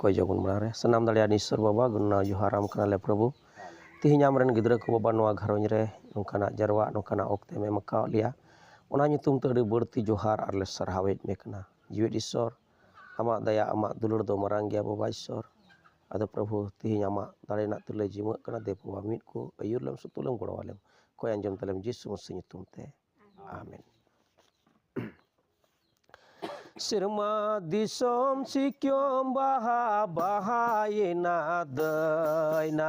ᱚᱠᱚᱭ ᱡᱚᱜᱚᱱ ᱢᱟᱲᱟᱝ ᱨᱮ ᱥᱟᱱᱟᱢ ᱫᱟᱲᱮᱭᱟᱜ ᱱᱤᱥᱚᱨ ᱵᱟᱵᱟ ᱜᱩᱱᱱᱟ ᱡᱚᱦᱟᱨ ᱟᱢ ᱠᱟᱱᱟᱞᱮ ᱯᱨᱚᱵᱷᱩ ᱛᱮᱦᱮᱧ ᱟᱢ ᱨᱮᱱ ᱜᱤᱫᱽᱨᱟᱹ ᱠᱚ ᱵᱟᱵᱟ ᱱᱚᱣᱟ ᱜᱷᱟᱨᱚᱸᱡᱽ ᱨᱮ ᱱᱚᱝᱠᱟᱱᱟᱜ ᱡᱟᱨᱣᱟᱜ ᱱᱚᱝᱠᱟᱱᱟᱜ ᱚᱠᱛᱮᱢ ᱮᱢ ᱟᱠᱟᱫ ᱞᱮᱭᱟ ᱚᱱᱟ ᱧᱩᱛᱩᱢ ᱛᱮ ᱟᱹᱰᱤ ᱵᱟᱹᱲᱛᱤ ᱡᱚᱦᱟᱨ ᱟᱨᱞᱮ ᱥᱟᱨᱦᱟᱣᱮᱫ ᱢᱮ ᱠᱟᱱᱟ ᱡᱤᱣᱮᱫ ᱤᱥᱚᱨ ᱟᱢᱟᱜ ᱫᱟᱭᱟ ᱟᱢᱟᱜ ᱫᱩᱞᱟᱹᱲ ᱫᱚ ᱢᱟᱨᱟᱝ ᱜᱮᱭᱟ ᱵᱟᱵᱟ ᱤᱥᱥᱚᱨ ᱟᱫᱚ ᱯᱨᱚᱵᱷᱩ ᱛᱮᱦᱮᱧ ᱟᱢᱟᱜ ᱫᱟᱲᱮ ᱨᱮᱱᱟᱜ ᱛᱤᱨᱞᱟᱹ ᱡᱤᱢᱟᱹᱜ ᱠᱟᱱᱟ ᱫᱮ ᱵᱟᱵᱟ ᱢᱤᱫ ᱠᱚ ᱟᱹᱭᱩᱨ ᱞᱮᱢ ᱥᱩᱛᱩᱜ ᱞᱮᱢ ᱜᱚᱲᱚ ᱟᱞᱮᱢ ᱠᱚᱭ ᱟᱸᱡᱚᱢ ᱛᱟᱞᱮᱢ ᱡᱤᱥᱩ ᱢᱟᱹᱥᱤ ᱧᱩᱛᱩᱢ ᱛᱮ ᱟᱢᱮᱱ ᱥᱮᱨᱢᱟ ᱫᱤᱥᱚᱢ ᱥᱤᱠᱭᱚᱢ ᱵᱟᱦᱟ ᱵᱟᱦᱟᱭᱮᱱᱟ ᱫᱟᱹᱭᱱᱟ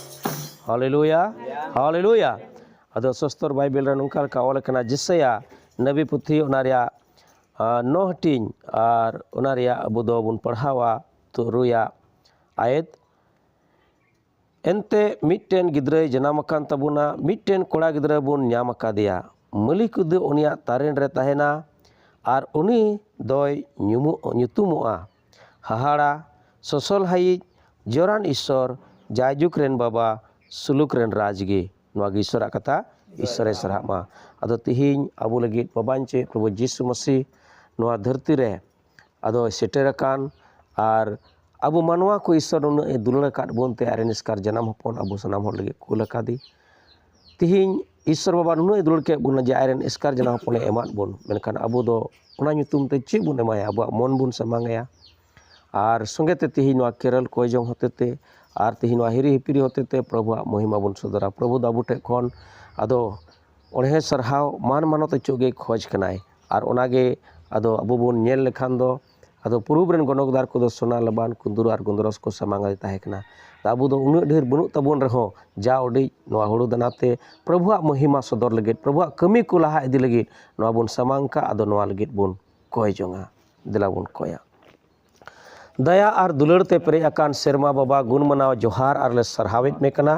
ᱦᱟᱞᱮᱞᱩᱭᱟ ᱦᱟᱞᱮᱞᱩᱭᱟ ᱟᱫᱚ ᱥᱚᱥᱛᱚᱨ ᱵᱟᱭᱵᱮᱞ ᱨᱮ ᱱᱚᱝᱠᱟ ᱞᱮᱠᱟ ᱚᱞ ᱟᱠᱟᱱᱟ ᱡᱮᱥᱟᱭᱟ ᱱᱟᱵᱤ ᱯᱩᱛᱷᱤ ᱚᱱᱟ ᱨᱮᱭᱟᱜ ᱱᱚ ᱦᱟᱹᱴᱤᱧ ᱟᱨ ᱚᱱᱟ ᱨᱮᱭᱟᱜ ᱟᱵᱚ ᱫᱚᱵᱚᱱ ᱯᱟᱲᱦᱟᱣᱟ ᱛᱩᱨᱩᱭᱟ ᱟᱭᱮᱛ ᱮᱱᱛᱮ ᱢᱤᱫᱴᱮᱱ ᱜᱤᱫᱽᱨᱟᱹᱭ ᱡᱟᱱᱟᱢ ᱟᱠᱟᱱ ᱛᱟᱵᱚᱱᱟ ᱢᱤᱫᱴᱮᱱ ᱠᱚᱲᱟ ᱜᱤᱫᱽᱨᱟᱹ ᱵᱚᱱ ᱧᱟᱢ ᱟᱠᱟᱫᱮᱭᱟ ᱢᱟᱹᱞᱤᱠ ᱫᱚ ᱩᱱᱤᱭᱟᱜ ᱛᱟᱨᱮᱱ ᱨᱮ ᱛᱟᱦᱮᱱᱟ ᱟᱨ ᱩᱱᱤ ᱫᱚᱭ ᱧᱩᱢᱩᱜ ᱧᱩᱛᱩᱢᱚᱜᱼᱟ ᱦᱟᱦᱟᱲᱟ ᱥᱚᱥᱚᱞᱦᱟᱭᱤᱡ ᱡᱚᱨᱟᱱ ᱤᱥᱥᱚᱨ ᱡᱟᱭᱡᱩᱜᱽ ᱨᱮᱱ ᱵᱟᱵᱟ ᱥᱩᱞᱩᱠ ᱨᱮᱱ ᱨᱟᱡᱽ ᱜᱮ ᱱᱚᱣᱟ ᱜᱮ ᱤᱥᱥᱚᱨᱟᱜ ᱠᱟᱛᱷᱟ ᱤᱥᱥᱚᱨᱮ ᱥᱟᱨᱦᱟᱜ ᱢᱟ ᱟᱫᱚ ᱛᱤᱦᱤᱧ ᱟᱵᱚ ᱞᱟᱹᱜᱤᱫ ᱵᱟᱵᱟᱧ ᱪᱮᱫ ᱯᱨᱚᱵᱷᱩ ᱡᱤᱥᱩ ᱢᱟᱹᱥᱤ ᱱᱚᱣᱟ ᱫᱷᱟᱹᱨᱛᱤ ᱨᱮ ᱟᱫᱚᱭ ᱥᱮᱴᱮᱨ ᱟᱠᱟᱱ ᱟᱨ ᱟᱵᱚ ᱢᱟᱱᱣᱟ ᱠᱚ ᱤᱥᱥᱚᱨ ᱩᱱᱟᱹᱜ ᱮ ᱫᱩᱞᱟᱹᱲ ᱟᱠᱟᱫ ᱵᱚᱱᱛᱮ ᱟᱡᱨᱮᱱ ᱮᱥᱠᱟᱨ ᱡᱟᱱᱟᱢ ᱦᱚᱯᱚᱱ ᱟᱵᱚ ᱥᱟᱱᱟᱢ ᱦᱚᱲ ᱞᱟᱹᱜᱤᱫ ᱠᱩᱞ ᱟᱠᱟᱫᱮ ᱛᱮᱦᱮᱧ ᱤᱥᱥᱚᱨ ᱵᱟᱵᱟ ᱱᱩᱱᱟᱹᱜ ᱮ ᱫᱩᱞᱟᱹᱲ ᱠᱮᱫ ᱵᱚᱱᱟ ᱡᱮ ᱟᱡ ᱨᱮᱱ ᱮᱥᱠᱟᱨ ᱡᱟᱱᱟᱢ ᱦᱚᱯᱚᱱᱮ ᱮᱢᱟᱫ ᱵᱚᱱ ᱢᱮᱱᱠᱷᱟᱱ ᱟᱵᱚ ᱫᱚ ᱚᱱᱟ ᱧᱩᱛᱩᱢ ᱛᱮ ᱪᱮᱫ ᱵᱚᱱ ᱮᱢᱟᱭᱟ ᱟᱵᱚᱣᱟᱜ ᱢᱚᱱ ᱵᱚᱱ ᱥᱟᱢᱟᱝ ᱟᱭᱟ ᱟᱨ ᱥᱚᱸᱜᱮ ᱛᱮ ᱛᱮᱦᱮᱧ ᱱᱚᱣᱟ ᱠᱮᱨᱚᱞ ᱠᱚᱭ ᱡᱚᱝ ᱦᱚᱛᱮ ᱛᱮ ᱟᱨ ᱛᱮᱦᱮᱧ ᱱᱚᱣᱟ ᱦᱤᱨᱤ ᱦᱤᱯᱤᱨᱤ ᱦᱚᱛᱮ ᱛᱮ ᱯᱨᱚᱵᱷᱩᱣᱟᱜ ᱢᱚᱦᱤᱢᱟ ᱵᱚᱱ ᱥᱚᱫᱚᱨᱟ ᱯᱨᱚᱵᱷᱩ ᱫᱚ ᱟᱵᱚ ᱴᱷᱮᱱ ᱠᱷᱚᱱ ᱟᱫᱚ ᱚᱬᱦᱮ ᱥᱟᱨᱦᱟᱣ ᱢᱟᱱ ᱢᱟᱱᱚᱛ ᱚᱪᱚᱜ ᱜᱮ ᱠᱷᱚᱡᱽ ᱠᱟᱱᱟᱭ ᱟᱨ ᱚᱱᱟᱜᱮ ᱟᱫᱚ ᱟᱵᱚ ᱵᱚᱱ ᱧᱮᱞ ᱞᱮᱠᱷᱟᱱ ᱫᱚ ᱟᱫᱚ ᱯᱩᱨᱩᱵᱽ ᱨᱮᱱ ᱜᱚᱱᱚᱠᱫᱟᱨ ᱠᱚᱫᱚ ᱥᱚᱱᱟ ᱞᱟᱵᱟᱱ ᱠᱩᱱᱫᱩᱨ ᱟᱨ ᱜᱚᱱᱫᱨᱚᱥ ᱠᱚ ᱥᱟᱢᱟᱝ ᱨᱮ ᱛᱟᱦᱮᱸ ᱠᱟᱱᱟ ᱟᱵᱚ ᱫᱚ ᱩᱱᱟᱹᱜ ᱰᱷᱮᱨ ᱵᱟᱹᱱᱩᱜ ᱛᱟᱵᱚᱱ ᱨᱮᱦᱚᱸ ᱡᱟ ᱩᱰᱤᱡ ᱱᱚᱣᱟ ᱦᱩᱲᱩ ᱫᱟᱱᱟ ᱛᱮ ᱯᱨᱚᱵᱷᱩᱣᱟᱜ ᱢᱚᱦᱤᱢᱟ ᱥᱚᱫᱚᱨ ᱞᱟᱹᱜᱤᱫ ᱯᱨᱚᱵᱷᱩᱣᱟᱜ ᱠᱟᱹᱢᱤ ᱠᱚ ᱞᱟᱦᱟ ᱤᱫᱤ ᱞᱟᱹᱜᱤᱫ ᱱᱚᱣᱟ ᱵᱚᱱ ᱥᱟᱢᱟᱝ ᱠᱟᱜ ᱟᱫᱚ ᱱᱚᱣᱟ ᱞᱟᱹᱜᱤᱫ ᱵᱚᱱ ᱠᱚᱭ ᱡᱚᱝᱟ ᱫᱮᱞᱟ ᱵᱚᱱ ᱠᱚᱭᱟ ᱫᱟᱭᱟ ᱟᱨ ᱫᱩᱞᱟᱹᱲ ᱛᱮ ᱯᱮᱨᱮᱡ ᱟᱠᱟᱱ ᱥᱮᱨᱢᱟ ᱵᱟᱵᱟ ᱜᱩᱱ ᱢᱟᱱᱟᱣ ᱡᱚᱦᱟᱨ ᱟᱨ ᱞᱮ ᱥᱟᱨᱦᱟᱣᱮᱫ ᱢᱮ ᱠᱟᱱᱟ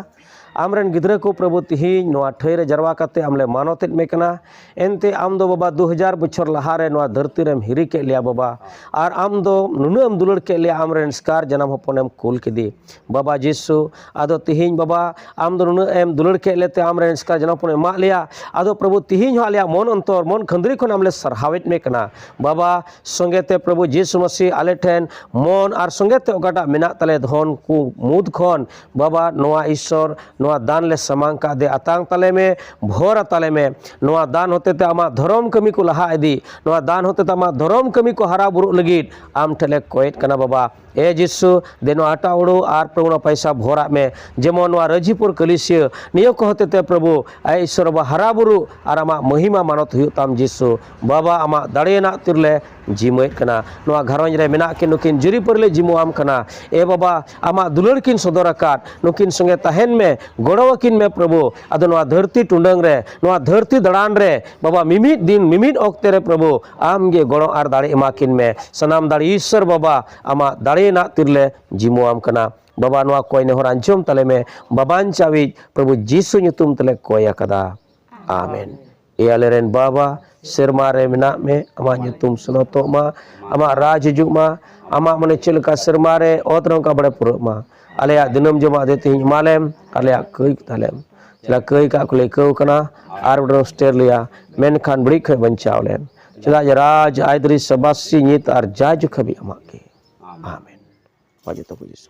ᱟᱢ ᱨᱮᱱ ᱜᱤᱫᱽᱨᱟᱹ ᱠᱚ ᱯᱨᱚᱵᱷᱩ ᱛᱤᱦᱤᱧ ᱱᱚᱣᱟ ᱴᱷᱟᱹᱭ ᱨᱮ ᱡᱟᱨᱣᱟ ᱠᱟᱛᱮ ᱟᱢ ᱞᱮ ᱢᱟᱱᱚᱛ ᱮᱫ ᱢᱮ ᱠᱟᱱᱟ ᱮᱱᱛᱮ ᱟᱢ ᱫᱚ ᱵᱟᱵᱟ ᱫᱩ ᱦᱟᱡᱟᱨ ᱵᱚᱪᱷᱚᱨ ᱞᱟᱦᱟ ᱨᱮ ᱱᱚᱣᱟ ᱫᱷᱟᱹᱨᱛᱤ ᱨᱮᱢ ᱦᱤᱨᱤ ᱠᱮᱫ ᱞᱮᱭᱟ ᱵᱟᱵᱟ ᱟᱨ ᱟᱢ ᱫᱚ ᱱᱩᱱᱟᱹᱜ ᱮᱢ ᱫᱩᱞᱟᱹᱲ ᱠᱮᱫ ᱞᱮᱭᱟ ᱟᱢ ᱨᱮᱱ ᱥᱠᱟᱨ ᱡᱟᱱᱟᱢ ᱦᱚᱯᱚᱱ ᱮᱢ ᱠᱩᱞ ᱠᱮᱫᱮ ᱵᱟᱵᱟ ᱡᱤᱥᱩ ᱟᱫᱚ ᱛᱤᱦᱤᱧ ᱵᱟᱵᱟ ᱟᱢ ᱫᱚ ᱱᱩᱱᱟᱹᱜ ᱮᱢ ᱫᱩᱞᱟᱹᱲ ᱠᱮᱫ ᱞᱮᱛᱮ ᱟᱢ ᱨᱮᱱ ᱥᱠᱟᱨ ᱡᱟᱱᱟᱢ ᱦᱚᱯᱚᱱ ᱮᱢᱟᱜ ᱞᱮᱭᱟ ᱟᱫᱚ ᱯᱨᱚᱵᱷᱩ ᱛᱤᱦᱤᱧ ᱦᱚᱸ ᱟᱞᱮᱭᱟᱜ ᱢᱚᱱ ᱚᱱᱛᱚᱨ ᱢᱚᱱ ᱠᱷᱟᱹᱱᱫᱽᱨᱤ ᱠᱷᱚᱱ ᱟᱢ ᱞᱮ ᱥᱟᱨᱦᱟᱣᱮᱫ ᱢᱮ ᱠᱟᱱᱟ ᱵᱟᱵᱟ ᱥᱚᱸᱜᱮ ᱛᱮ ᱯᱨᱚᱵᱷᱩ ᱡᱤᱥᱩ ᱢᱟᱹᱥᱤ ᱟᱞᱮ ᱴᱷᱮᱱ ᱢᱚᱱ ᱟᱨ ᱥᱚᱸᱜᱮ ᱛᱮ ᱚᱠᱟᱴᱟᱜ ᱢᱮᱱᱟᱜ ᱛᱟᱞᱮ ᱫᱷᱚᱱ ᱠᱚ ᱢᱩᱫᱽ ᱠᱷᱚᱱ ᱵᱟᱵᱟ ᱱᱚᱣᱟ ᱤᱥᱥᱚᱨ ᱱᱚᱣᱟ ᱫᱟᱱ ᱞᱮ ᱥᱟᱢᱟᱝ ᱠᱟᱜ ᱫᱮ ᱟᱛᱟᱝ ᱛᱟᱞᱮ ᱢᱮ ᱵᱷᱚᱨ ᱟᱛᱟᱞᱮ ᱢᱮ ᱱᱚᱣᱟ ᱫᱟᱱ ᱦᱚᱛᱮᱛᱮ ᱟᱢᱟᱜ ᱫᱷᱚᱨᱚᱢ ᱠᱟᱹᱢᱤ ᱠᱚ ᱞᱟᱦᱟ ᱤᱫᱤ ᱱᱚᱣᱟ ᱫᱟᱱ ᱦᱚᱛᱮᱛᱮ ᱟᱢᱟᱜ ᱫᱷᱚᱨᱚᱢ ᱠᱟᱹᱢᱤ ᱠᱚ ᱦᱟᱨᱟ ᱵᱩᱨᱩᱜ ᱞᱟᱹᱜᱤᱫ ᱟᱢ ᱴᱷᱮᱱ ᱞᱮ ᱠᱚᱭᱮᱫ ᱠᱟᱱᱟ ᱵᱟᱵᱟ ᱮ ᱡᱤᱥᱩ ᱫᱮ ᱱᱚᱣᱟ ᱟᱴᱟ ᱩᱲᱩ ᱟᱨ ᱯᱨᱚᱵᱷᱩ ᱱᱚᱣᱟ ᱯᱚᱭᱥᱟ ᱵᱷᱚᱨᱟᱜ ᱢᱮ ᱡᱮᱢᱚᱱ ᱱᱚᱣᱟ ᱨᱟᱹᱡᱤᱯᱩᱨ ᱠᱟᱹᱞᱤᱥᱤᱭᱟᱹ ᱱᱤᱭᱟᱹ ᱠᱚ ᱦᱚᱛᱮᱛᱮ ᱯᱨᱚᱵᱷᱩ ᱟᱭ ᱤᱥᱥᱚᱨ ᱵᱟᱵᱟ ᱦᱟᱨᱟ ᱵᱩᱨᱩᱜ ᱟᱨ ᱟᱢᱟᱜ ᱢᱚᱦᱤᱢᱟ ᱢᱟᱱᱚᱛ ᱦᱩᱭᱩᱜ ᱛᱟᱢ ᱡᱤᱥᱩ ᱵᱟᱵᱟ ᱟᱢᱟᱜ ᱫᱟᱲᱮᱭᱟᱱᱟᱜ ᱛᱤᱨᱞᱮ ᱡᱤᱢᱟᱹᱭᱮᱫ ᱠᱟᱱᱟ ᱱᱚᱣᱟ ᱜᱷᱟᱨᱚᱸᱡᱽ ᱨᱮ ᱢᱮᱱᱟᱜ ᱠᱤᱱ ᱱᱩᱠᱤᱱ ᱡᱩᱨᱤ ᱯᱟᱹᱨᱞᱮ ᱡᱤᱢᱟᱹᱣᱟᱢ ᱠᱟᱱᱟ ᱮ ᱵᱟᱵᱟ ᱟᱢᱟᱜ ᱫᱩᱞᱟᱹᱲ ᱠᱤᱱ ᱥᱚᱫᱚᱨ ᱟᱠᱟᱫ ᱱᱩᱠᱤᱱ ᱥᱚᱸᱜᱮ ᱛᱟᱦᱮᱱ ᱢᱮ ᱜᱚᱲᱚ ᱟᱹᱠᱤᱱ ᱢᱮ ᱯᱨᱚᱵᱷᱩ ᱟᱫᱚ ᱱᱚᱣᱟ ᱫᱷᱟᱹᱨᱛᱤ ᱴᱩᱰᱟᱹᱝ ᱨᱮ ᱱᱚᱣᱟ ᱫᱷᱟᱹᱨᱛᱤ ᱫᱟᱬᱟᱱ ᱨᱮ ᱵᱟᱵᱟ ᱢᱤᱢᱤᱫ ᱫᱤᱱ ᱢᱤᱢᱤᱫ ᱚᱠᱛᱮ ᱨᱮ ᱯᱨᱚᱵᱷᱩ ᱟᱢ ᱜᱮ ᱜᱚᱲᱚ ᱟᱨ ᱫᱟᱲᱮ ᱮᱢᱟ ᱠᱤᱱ ᱢᱮ ᱥᱟᱱᱟᱢ ᱫᱟᱲᱮ ᱤᱥᱥᱚᱨ ᱵᱟᱵᱟ ᱟᱢᱟᱜ ᱫᱟᱲᱮ ᱨᱮᱱᱟᱜ ᱛᱤᱨᱞᱮ ᱡᱤᱢᱟᱹᱣᱟᱢ ᱠᱟᱱᱟ ᱵᱟᱵᱟ ᱱᱚᱣᱟ ᱠᱚᱭ ᱱᱮᱦᱚᱨ ᱟᱸᱡᱚᱢ ᱛᱟᱞᱮ ᱢᱮ ᱵᱟᱵᱟᱧ ᱪᱟᱣᱤᱡ ᱯᱨᱚᱵᱷᱩ ᱡᱤᱥᱩ ᱧᱩᱛᱩᱢ ᱛᱮᱞᱮ ᱠᱚᱭ ᱟᱠᱟᱫᱟ ᱟᱢᱮᱱ ᱮ ᱟᱞᱮᱨᱮᱱ ᱵᱟᱵᱟ ᱥᱮᱨᱢᱟ ᱨᱮ ᱢᱮᱱᱟᱜ ᱢᱮ ᱟᱢᱟᱜ ᱧᱩᱛᱩᱢ ᱥᱚᱱᱚᱛᱚᱜ ᱢᱟ ᱟᱢᱟᱜ ᱨᱟᱡᱽ ᱦᱤᱡᱩᱜ ᱢᱟ ᱟᱢᱟᱜ ᱢᱟᱱᱮ ᱪᱮᱫ ᱞᱮᱠᱟ ᱥᱮᱨᱢᱟ ᱨᱮ ᱚᱛ ᱨᱮ ᱚᱱᱠᱟ ᱵᱟᱲᱮ ᱯᱩᱨᱟᱹᱜ ᱢᱟ ᱟᱞᱮᱭᱟᱜ ᱫᱤᱱᱟᱹᱢ ᱡᱚᱢᱟᱜ ᱫᱮ ᱛᱮᱦᱮᱧ ᱮᱢᱟᱞᱮᱢ ᱟᱞᱮᱭᱟᱜ ᱠᱟᱹᱭ ᱛᱟᱞᱮᱢ ᱪᱮᱫᱟᱜ ᱠᱟᱹᱭ ᱠᱟᱜ ᱠᱚᱞᱮ ᱟᱹᱭᱠᱟᱹᱣ ᱠᱟᱱᱟ ᱟᱨ ᱵᱚᱰᱚ ᱥᱴᱮᱨ ᱞᱮᱭᱟ ᱢᱮᱱᱠᱷᱟᱱ ᱵᱟᱹᱲᱤᱡ ᱠᱷᱚᱡ ᱵᱟᱧᱪᱟᱣ ᱞᱮᱢ ᱪᱮᱫᱟᱜ ᱡᱮ ᱨᱟᱡᱽ ᱟᱭᱫᱨᱤ ᱥᱟᱵᱟᱥᱤ ᱧᱤᱛ ᱟᱨ ᱡᱟ ᱡᱚᱠᱷᱟᱵᱤ ᱟᱢᱟᱜ ᱜᱮ ᱟᱢᱮᱱ ᱢᱟ ᱡᱚᱛᱚ ᱠᱚ ᱡᱤᱥᱩ